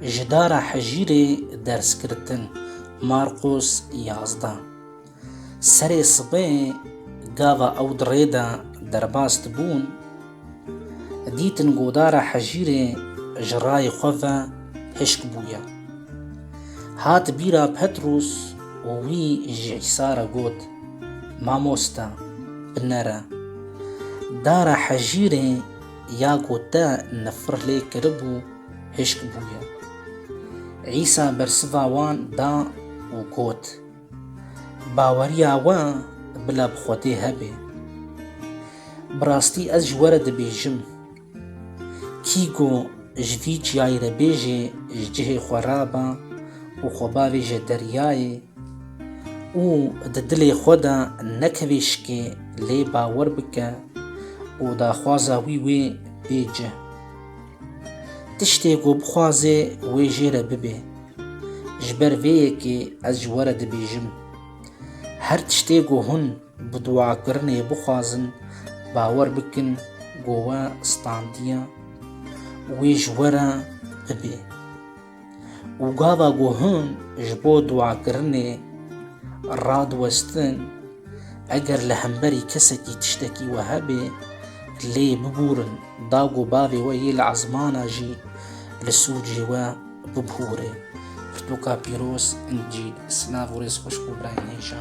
Ji dara hejîrê derskirtin Marqos yazdeh. Serê sibê gava ew di rê de derbas dibûn, dîtin godara hejîrê ji rayê xwe ve hişk bûye. Hat bîra Petros û wî ji Îsa re got, Mamoste, binere. Dara hejîrê Ya ku te nifir lê kiribû hişk bûye. Îsa bersiva wan da û got, Baweriya we bila bi Xwedê hebe. Bi rastî ez ji we re dibêjim, kî ku ji vî çiyayê re bêje ji cihê xwe rabe û xwe bavêje deryayê, û di dilê xwe de nekevê şikê lê bawer bike û daxwaza wî wê bê cih. Tiştê ku bixwazê wê jê re bibê. Ji ber vê yekê ez ji we re dibêjim, her tiştê ku hûn bi duakirinê bixwazin bawer bikin ku we standiye wê ji we re bibê. Û gava ku hûn ji bo duakirinê radiwestin, eger li hemberî kesekî tiştekî we hebe, lê bibûrin, da ku bavê we yê li ezmana jî li sûcê we bibûre. Pirtûka pîroz, Încîl. Silav û rêz xweş ku birayên hêja.